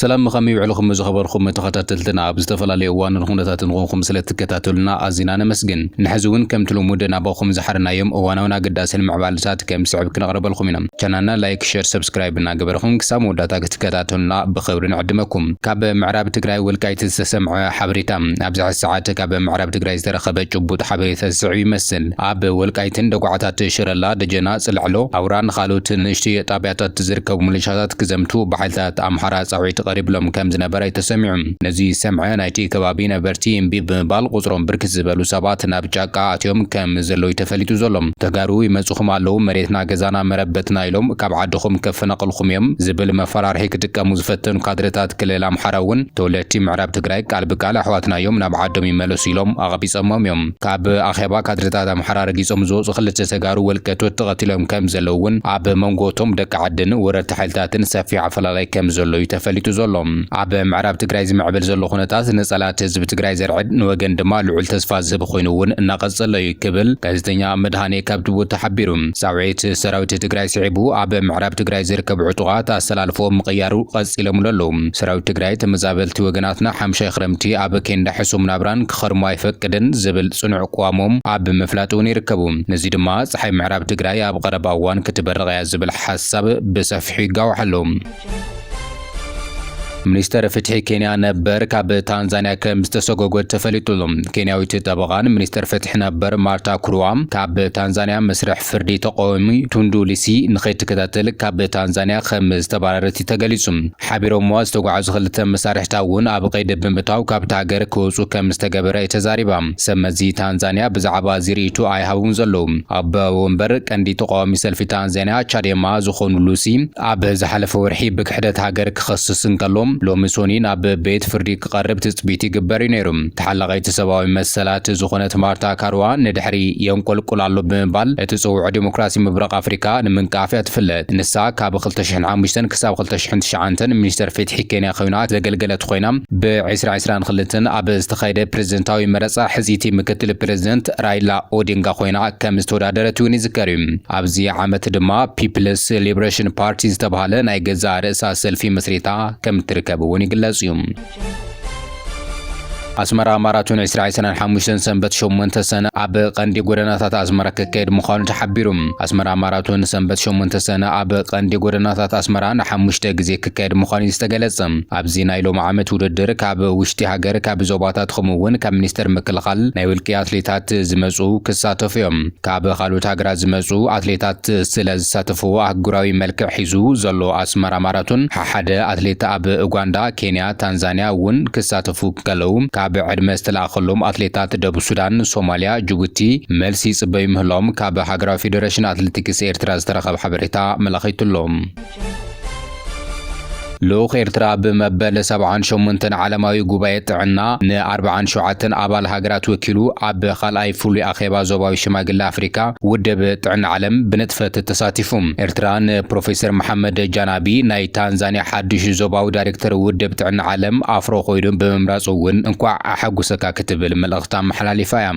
ሰላም ከመይ ውዕልኹም ዝኸበርኩም ተኸታተልትና ኣብ ዝተፈላለዩ እዋንን ኩነታትን ንኾንኩም ስለ ትከታተሉና ኣዚና ነመስግን ንሕዚ እውን ከምቲ ልሙድ ናባኹም ዝሓርናዮም እዋናውን ኣገዳስን ምዕባልታት ከም ስዕብ ክነቕርበልኩም ኢና ቻናልና ላይክ ሸር ሰብስክራይብ እናገበርኹም ክሳብ መወዳእታ ክትከታተሉና ብኽብሪ ንዕድመኩም ካብ ምዕራብ ትግራይ ወልቃይት ዝተሰምዐ ሓበሬታ ኣብዚ ሕዚ ሰዓት ካብ ምዕራብ ትግራይ ዝተረኸበ ጭቡጥ ሓበሬታ ዝስዕብ ይመስል ኣብ ወልቃይትን ደጉዓታት ሽረላ፣ ደጀና፣ ጽላዕሎ፣ ኣውራን ኻልኦት ንእሽትዮ ጣብያታት ዝርከቡ ምልሻታት ክዘምቱ ብሓይልታት ኣምሓራ ጻውዒት ቐሪብሎም ከምዝነበረ እዩ ተሰሚዑ። ነዚ ዝሰምዐ ናይቲ ከባቢ ነበርቲ እምቢ ብምባል ቑጽሮም ብርክት ዝበሉ ሰባት ናብ ጫቃ ኣትዮም ከምዘለው እዩ ተፈሊጡ ዘሎ። ተጋሩ ይመጹኹም ኣለው መሬትና ገዛና መረበትና ኢሎም ካብ ዓድኹም ከፈናቕልኹም እዮም ዝብል መፈራርሒ ክጥቀሙ ዝፈተኑ ካድረታት ክልል ኣምሓራ እውን ተወለድቲ ምዕራብ ትግራይ ቃል ብቃል ኣሕዋትና እዮም ናብ ዓዶም ይመለሱ ኢሎም ኣቕቢጾሞም እዮም። ካብ ኣኼባ ካድረታት ኣምሓራ ረጊጾም ዝወጹ ክልተ ተጋሩ ወልቀ ቶት ተቐቲሎም ከም ዘለዉ እውን ኣብ መንጎ እቶም ደቂ ዓድን ወረርቲ ሓይልታትን ሰፊሕ ኣፈላላይ ከም ዘሎ እዩ ተፈሊጡ ዘሎ። ኣብ ምዕራብ ትግራይ ዝምዕብል ዘሎ ኩነታት ንጸላእቲ ህዝቢ ትግራይ ዘርዕድ ንወገን ድማ ልዑል ተስፋ ዝህብ ኮይኑ እውን እናቐጸሎ እዩ ክብል ጋዜጠኛ መድሃኔ ካብቲ ቦታ ሓቢሩ። ጻውዒት ሰራዊት ትግራይ ስዒቡ ኣብ ምዕራብ ትግራይ ዝርከቡ ዕጡቓት ኣሰላልፎኦም ምቕያሩ ቐጺሎምሉ ኣለዉ። ሰራዊት ትግራይ ተመዛበልቲ ወገናትና ሓምሻይ ክረምቲ ኣብ ኬንዳ ሕሱም ናብራን ክኸርሙ ኣይፈቅድን ዝብል ፅኑዕ ቅዋሞም ኣብ ምፍላጥ እውን ይርከቡ። ነዙይ ድማ ፀሓይ ምዕራብ ትግራይ ኣብ ቐረባ እዋን ክትበርቕ እያ ዝብል ሓሳብ ብሰፊሑ ይጋዋሕ ኣሎ። ሚኒስተር ፍትሒ ኬንያ ነበር ካብ ታንዛንያ ከም ዝተሰጎጎ ተፈሊጡ ኣሎ። ኬንያዊት ጠበቓን ሚኒስተር ፍትሒ ነበር ማርታ ኩሩዋ ካብ ታንዛንያ መስርሕ ፍርዲ ተቓዋሚ ቱንዱ ሊሲ ንኸይትከታተል ካብ ታንዛንያ ከም ዝተባረረት እዩ ተገሊፁ። ሓቢሮምዋ ዝተጓዕዙ ክልተ መሳርሕታ እውን ኣብ ቀይዲ ብምእታው ካብታ ሃገር ክወጹ ከም ዝተገበረ እዩ ተዛሪባ። ሰብ መዚ ታንዛንያ ብዛዕባ እዚ ርእይቶ ኣይሃቡን ዘለዉ። ኣቦ ወንበር ቀንዲ ተቓዋሚ ሰልፊ ታንዛንያ ቻዴማ ዝኾኑ ሉሲ ኣብ ዝሓለፈ ወርሒ ብክሕደት ሃገር ክኸስስ እንከሎ ሎሚ ሶኒ ናብ ቤት ፍርዲ ክቐርብ ትጽቢት ይግበር እዩ ነይሩ። ተሓላቒት ሰብኣዊ መሰላት ዝኾነት ማርታ ካሩዋ ንድሕሪ የንቆልቁል ኣሎ ብምባል እትጽውዖ ዴሞክራሲ ምብራቕ ኣፍሪቃ ንምንቃፍ እያ ትፍለጥ። ንሳ ካብ ክልተ ሽሕን ሓሙሽተን ክሳብ ክልተ ሽሕን ትሽዓንተን ሚኒስተር ፊትሒ ኬንያ ኮይና ዘገልገለት ኮይና ብ ዕስራ ዕስራን ክልተን ኣብ ዝተኻየደ ፕረዚደንታዊ መረጻ ሕጽይቲ ምክትል ፕረዚደንት ራይላ ኦዲንጋ ኮይና ከም ዝተወዳደረት እውን ይዝከር እዩ። ኣብዚ ዓመት ድማ ፒፕልስ ሊብረሽን ፓርቲ ዝተብሃለ ናይ ገዛእ ርእሳ ሰልፊ መስሪታ ከም እትርከብ እውን ይግለጽ እዩ። ኣስመራ ማራቶን ዕስራ ዕስራን ሓሙሽተን ሰንበት ሸሞንተ ሰነ ኣብ ቀንዲ ጎደናታት ኣስመራ ክካየድ ምዃኑ ተሓቢሩ። ኣስመራ ማራቶን ሰንበት ሸሞንተ ሰነ ኣብ ቀንዲ ጎደናታት ኣስመራ ንሓሙሽተ ግዜ ክካየድ ምዃኑ እዩ ዝተገለጸ። ኣብዚ ናይ ሎሚ ዓመት ውድድር ካብ ውሽጢ ሃገር፣ ካብ ዞባታት ከምኡ'ውን ካብ ሚኒስተር ምክልኻል ናይ ውልቂ ኣትሌታት ዝመጹ ክሳተፉ እዮም። ካብ ካልኦት ሃገራት ዝመጹ ኣትሌታት ስለ ዝሳተፍዎ ኣህጉራዊ መልክዕ ሒዙ ዘሎ ኣስመራ ማራቶን ሓደ ኣትሌት ኣብ ኡጋንዳ፣ ኬንያ፣ ታንዛንያ ውን ክሳተፉ እንከለዉ፣ ካብ ዕድመ ዝተለኣኸሎም ኣትሌታት ደቡብ ሱዳን፣ ሶማልያ፣ ጅቡቲ መልሲ ይጽበዩ ምህላዎም ካብ ሃገራዊ ፌደረሽን ኣትሌቲክስ ኤርትራ ዝተረኸበ ሓበሬታ ኣመላኺቱ'ሎ። ልኡኽ ኤርትራ ብመበል ሰብዓን ሸሞንተን ዓለማዊ ጉባኤ ጥዕና ንኣርብዓን ሸውዓተን ኣባል ሃገራት ወኪሉ ኣብ ካልኣይ ፍሉይ ኣኼባ ዞባዊ ሽማግለ ኣፍሪካ ውድብ ጥዕና ዓለም ብንጥፈት ተሳቲፉ። ኤርትራ ንፕሮፌሰር መሓመድ ጃና ኣብይ ናይ ታንዛንያ ሓዱሽ ዞባዊ ዳይሬክተር ውድብ ጥዕና ዓለም ኣፍሮ ኮይኑ ብምምራጹ እውን እንኳዕ ኣሓጎሰካ ክትብል መልእኽታ ኣመሓላሊፋ እያ።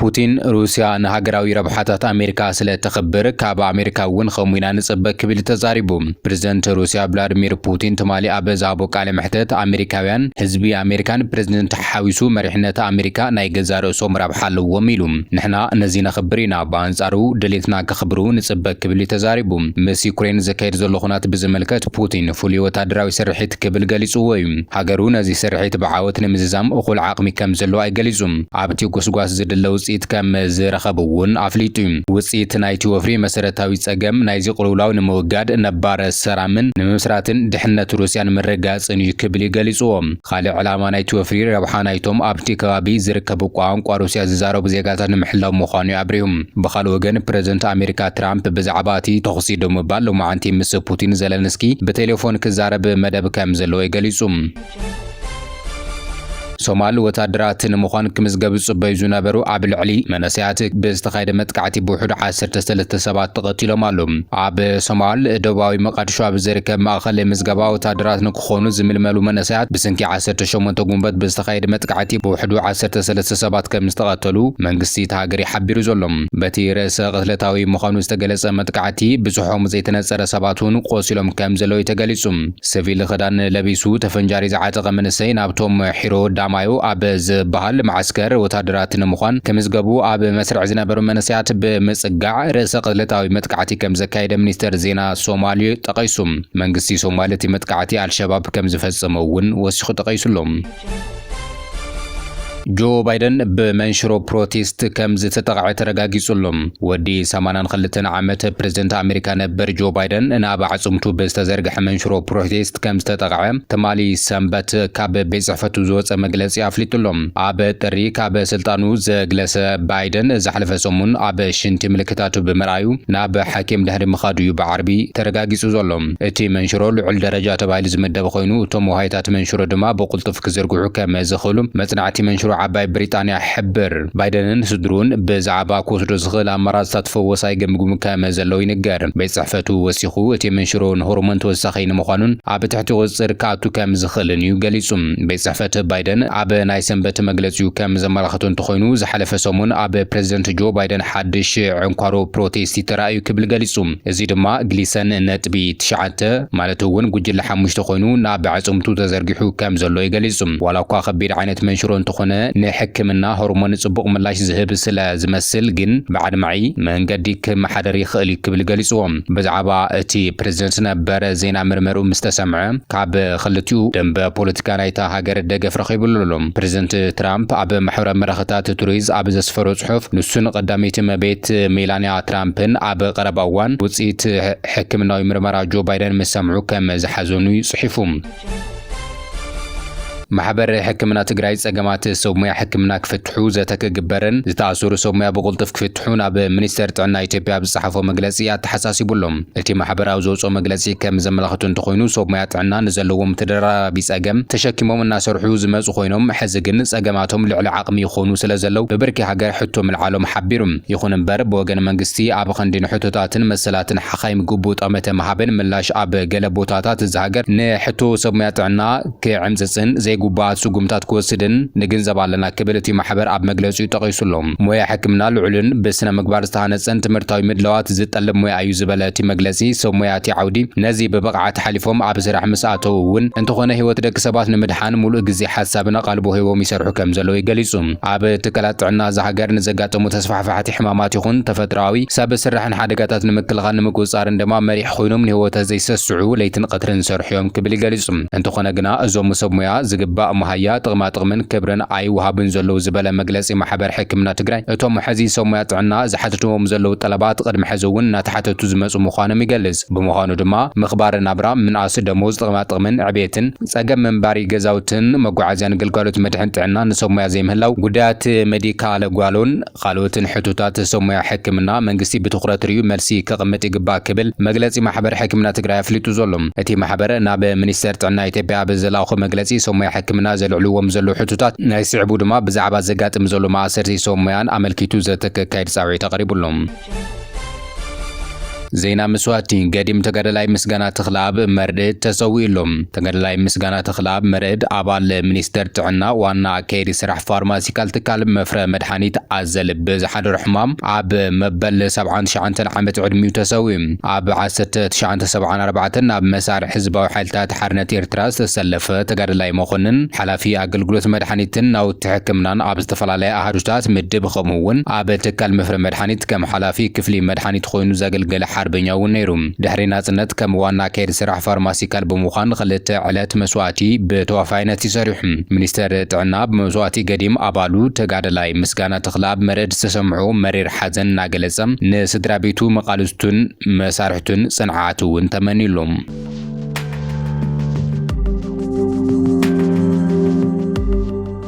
ፑቲን ሩስያ ንሃገራዊ ረብሓታት ኣሜሪካ ስለ ተኽብር ካብ ኣሜሪካ እውን ከምኡ ኢና ንጽበ ክብል እዩ ተዛሪቡ። ፕረዚደንት ሩስያ ቭላድሚር ፑቲን ትማሊ ኣብ ዝሃቦ ቃለ መሕተት ኣሜሪካውያን ህዝቢ ኣሜሪካን ፕረዚደንት ሓዊሱ መሪሕነት ኣሜሪካ ናይ ገዛእ ርእሶም ረብሓ ኣለዎም ኢሉ። ንሕና ነዚ ነኽብር ኢና። ብኣንጻሩ ድሌትና ከኽብሩ ንጽበ ክብል እዩ ተዛሪቡ። ምስ ዩክሬን ዝካየድ ዘሎ ኹናት ብዝምልከት ፑቲን ፍሉይ ወተሃደራዊ ስርሒት ክብል ገሊጽዎ እዩ። ሃገሩ ነዚ ስርሒት ብዓወት ንምዝዛም እኹል ዓቕሚ ከም ዘለዋ እዩ ገሊጹ። ኣብቲ ጎስጓስ ዝድለ ውጽኢት ከም ዝረኸቡ እውን ኣፍሊጡ እዩ። ውጽኢት ናይቲ ወፍሪ መሰረታዊ ጸገም ናይዚ ቅልውላው ንምውጋድ ነባር ሰራምን ንምምስራትን ድሕነት ሩስያ ንምርግጋጽን እዩ ክብል እዩ ገሊጽዎ። ኻልእ ዕላማ ናይቲ ወፍሪ ረብሓ ናይቶም ኣብቲ ከባቢ ዝርከቡ ቋንቋ ሩስያ ዝዛረቡ ዜጋታት ንምሕላው ምዃኑ'ዩ ኣብሪሁ። ብኻልእ ወገን ፕረዚደንት ኣሜሪካ ትራምፕ ብዛዕባ እቲ ተኹሲ ደው ምባል ሎማዕንቲ ምስ ፑቲን ዘለንስኪ ብቴሌፎን ክዛረብ መደብ ከም ዘለዎ'ዩ ገሊጹ። ሶማል ወታደራት ንምዃን ክምዝገቡ ዝጽበዩ ዝነበሩ ኣብ ልዕሊ መንእሰያት ብዝተኻየደ መጥቃዕቲ ብውሕዱ ዓሰርተ ሰለስተ ሰባት ተቐቲሎም ኣሉ። ኣብ ሶማል ደቡባዊ መቓድሾ ኣብ ዝርከብ ማእኸል ምዝገባ ወታደራት ክኾኑ ዝምልመሉ መንእሰያት ብስንኪ ዓሰርተ ሸሞንተ ጉንበት ብዝተኻየደ መጥቃዕቲ ብውሕዱ ዓሰርተ ሰለስተ ሰባት ከምዝተቐተሉ መንግስቲ እታ ሃገር'ዩ ሓቢሩ ዘሎ። በቲ ርእሰ ቅትለታዊ ምዃኑ ዝተገለጸ መጥቃዕቲ ብጽሖም ዘይተነጸረ ሰባት'ውን ቆሲሎም ከምዘለዉ'ዩ ተገሊጹ። ስቪል ክዳን ለቢሱ ተፈንጃሪ ዝዓጠቐ መንእሰይ ናብቶም ሒሮ ዳማዮ ኣብ ዝበሃል መዓስከር ወተሃደራት ንምዃን ክምዝገቡ ኣብ መስርዕ ዝነበሩ መንእሰያት ብምጽጋዕ ርእሰ ቅትለታዊ መጥቃዕቲ ከምዘካየደ ሚኒስተር ዜና ሶማል ጠቒሱ። መንግስቲ ሶማል እቲ መጥቃዕቲ ኣልሸባብ ከም ዝፈጸመ እውን ወሲኹ ጠቐይሱ ኣሎ። ጆ ባይደን ብመንሽሮ ፕሮቴስት ከም ዝተጠቕዐ ተረጋጊጹ ኣሎ። ወዲ 82 ዓመት ፕረዚደንት ኣመሪካ ነበር ጆ ባይደን ናብ ኣዕጽምቱ ብዝተዘርግሐ መንሽሮ ፕሮቴስት ከም ዝተጠቕዐ ትማሊ ሰንበት ካብ ቤት ጽሕፈቱ ዝወጸ መግለጺ ኣፍሊጡ ኣሎ። ኣብ ጥሪ ካብ ስልጣኑ ዘግለሰ ባይደን ዝሓለፈ ሰሙን ኣብ ሽንቲ ምልክታቱ ብምርኣዩ ናብ ሓኪም ድሕሪ ምኻዱ እዩ ብዓርቢ ተረጋጊጹ ዘሎ። እቲ መንሽሮ ልዑል ደረጃ ተባሂሉ ዝምደብ ኾይኑ፣ እቶም ወሃይታት መንሽሮ ድማ ብቕልጡፍ ክዝርግሑ ከም ዝኽእሉ መጽናዕቲ መንሽሮ ዓባይ ብሪጣንያ ይሕብር። ባይደንን ስድርኡን ብዛዕባ ክወስዶ ዝኽእል ኣማራጺታት ፈወሳ ይግምግሙ ከም ዘለዉ ይንገር። ቤት ጽሕፈቱ ወሲኹ፣ እቲ መንሽሮ ንሆርሞን ተወሳኺ ንምዃኑን ኣብ ትሕቲ ቁጽጽር ክኣቱ ከም ዝኽእልን እዩ ገሊጹ። ቤት ጽሕፈት ባይደን ኣብ ናይ ሰንበት መግለጺኡ ከም ዘመላኸቶ እንተኾይኑ፣ ዝሓለፈ ሰሙን ኣብ ፕረዚደንት ጆ ባይደን ሓድሽ ዕንኳሮ ፕሮቴስቲ ተራእዩ ክብል ገሊጹ። እዚ ድማ ግሊሰን ነጥቢ ትሽዓተ ማለት እውን ጉጅለ ሓሙሽተ ኮይኑ ናብ ኣዕጽምቱ ተዘርጊሑ ከም ዘሎ እዩ ገሊጹ። ዋላኳ ከቢድ ዓይነት መንሽሮ እንተኾነ ንሕክምና ሆርሞን ጽቡቕ ምላሽ ዝህብ ስለ ዝመስል ግን ብኣድማዒ መንገዲ ክመሓደር ይኽእል እዩ ክብል ገሊጽዎ። ብዛዕባ እቲ ፕረዚደንት ነበር ዜና ምርመርኡ ምስ ተሰምዐ ካብ ክልቲኡ ደምበ ፖለቲካ ናይታ ሃገር ደገፍ ረኺቡሉ ኣሎ። ፕረዚደንት ትራምፕ ኣብ ማሕበራዊ መራኸታት ትሩዝ ኣብ ዘስፈሮ ጽሑፍ፣ ንሱን ቐዳመይቲ እመቤት ሜላንያ ትራምፕን ኣብ ቐረባ እዋን ውጽኢት ሕክምናዊ ምርመራ ጆ ባይደን ምስ ሰምዑ ከም ዝሓዘኑ'ዩ ጽሒፉ። ማሕበር ሕክምና ትግራይ ጸገማት ሰብ ሙያ ሕክምና ክፍትሑ ዘተ ክግበርን ዝተኣሰሩ ሰብ ሙያ ብቕልጡፍ ክፍትሑን ኣብ ሚኒስቴር ጥዕና ኢትዮጵያ ኣብ ዝጸሓፎ መግለጺ ኣተሓሳሲቡሎም። እቲ ማሕበር ኣብ ዘውጽኦ መግለጺ ከም ዘመላኽቶ እንተኾይኑ ሰብ ሞያ ጥዕና ንዘለዎም ተደራራቢ ጸገም ተሸኪሞም እናሰርሑ ዝመጹ ኮይኖም ሕዚ ግን ጸገማቶም ልዕሊ ዓቕሚ ይኾኑ ስለ ዘለው ብብርኪ ሃገር ሕቶ ምልዓሎም ሓቢሩ። ይኹን እምበር ብወገን መንግስቲ ኣብ ኽንዲ ንሕቶታትን መሰላትን ሓኻይም ግቡእ ጠመተ ምሃብን ምላሽ ኣብ ገለ ቦታታት እዛ ሃገር ንሕቶ ሰብ ሞያ ጥዕና ክዕምጽጽን ዘይጉቡኣት ስጉምታት ክወስድን ንግንዘብ ኣለና ክብል እቲ ማሕበር ኣብ መግለጺኡ ጠቒሱ ኣሎ። ሞያ ሕክምና ልዑልን ብስነ ምግባር ዝተሃነጸን ትምህርታዊ ምድላዋት ዝጠልብ ሞያ እዩ ዝበለ እቲ መግለጺ፣ ሰብ ሞያ እቲ ዓውዲ ነዚ ብብቕዓት ሓሊፎም ኣብ ስራሕ ምስ ኣተዉ እውን እንተኾነ ህይወት ደቂ ሰባት ንምድሓን ሙሉእ ግዜ ሓሳብን ኣቓልቦ ሂቦም ይሰርሑ ከም ዘለዉ ገሊጹ። ኣብ ትካላት ጥዕና እዛ ሃገር ንዘጋጥሙ ተስፋሕፋሕቲ ሕማማት ይኹን ተፈጥሮኣዊ፣ ሰብ ስራሕን ሓደጋታት ንምክልኻል ንምቁጽጻርን ድማ መሪሕ ኮይኖም ንህወተ ዘይሰስዑ ለይትን ቐትርን ዝሰርሑ'ዮም ክብል ገሊጹ። እንተኾነ ግና እዞም ሰብ ሞያ ዝግባእ መሃያ፣ ጥቕማጥቕምን ክብርን ኣይወሃቡን ዘለዉ ዝበለ መግለጺ ማሕበር ሕክምና ትግራይ፣ እቶም ሕዚ ሰብ ሞያ ጥዕና ዝሓትትዎም ዘለዉ ጠለባት ቕድሚ ሕዚ'ውን እናተሓተቱ ዝመጹ ምዃኖም ይገልጽ። ብምዃኑ ድማ ምኽባረ ናብራ፣ ምንኣስ ደሞዝ፣ ጥቕማጥቕምን ዕብየትን፣ ጸገም መንባሪ ገዛውትን፣ መጓዓዝያን ግልጋሎት መድሕን ጥዕናን ንሰብ ሞያ ዘይምህላው፣ ጉዳያት መዲካል ጓሎን፣ ኻልኦትን ሕቶታት ሰብ ሞያ ሕክምና መንግስቲ ብትኹረት ሪኡ መልሲ ከቕምጥ ይግባእ ክብል መግለፂ ማሕበር ሕክምና ትግራይ ኣፍሊጡ ዘሎ። እቲ ማሕበር ናብ ሚኒስቴር ጥዕና ኢትዮጵያ ኣብ ዘልኣኾ መግለፂ ሰብ ሞያ ሕክምና ዘልዕልዎም ዘለው ሕቶታት ናይ ስዕቡ ድማ ብዛዕባ ዘጋጥም ዘሎ ማእሰርቲ ሰብ ሞያን ኣመልኪቱ ዘተ ከካይድ ፃውዒት ኣቕሪቡ ኣሎ። ዜና መስዋእቲ ገዲም ተጋዳላይ ምስጋና ተኽለኣብ መርዕድ ተሰዊኡሉ። ተጋዳላይ ምስጋና ተኽለኣብ መርዕድ ኣባል ሚኒስቴር ጥዕና ዋና ኣካየዲ ስራሕ ፋርማሲካል ትካል መፍረ መድሓኒት ኣዘል ብዝሓደሮ ሕማም ኣብ መበል ሰብዓን ትሽዓንተን ዓመት ዕድሚኡ ተሰዊኡ። ኣብ ዓሰርተ ትሽዓተ ሰብዓን ኣርባዕተን ናብ መሳርዕ ህዝባዊ ሓይልታት ሓርነት ኤርትራ ዝተሰለፈ ተጋዳላይ መኮንን ሓላፊ ኣገልግሎት መድሓኒትን ናውቲ ሕክምናን ኣብ ዝተፈላለያ ኣሃዱታት ምድብ ከምኡ'ውን ኣብ ትካል መፍረ ኣኒት ከም ሓላፊ ክፍሊ መድሓኒት ኾይኑ ዘገልገለ ሓርበኛ እውን ነይሩ። ድሕሪ ናፅነት ከም ዋና ኣካየዲ ስራሕ ፋርማሲካል ብምዃን ኽልተ ዕለት መስዋእቲ ብተዋፋይነት እዩ ሰሪሑ። ሚኒስቴር ጥዕና ብመስዋእቲ ገዲም ኣባሉ ተጋዳላይ ምስጋና ተኽለኣብ መርድ ዝተሰምዖ መሪር ሓዘን እናገለፀ ንስድራቤቱ፣ መቓልስቱን መሳርሕቱን ፅንዓት እውን ተመንዩሎም።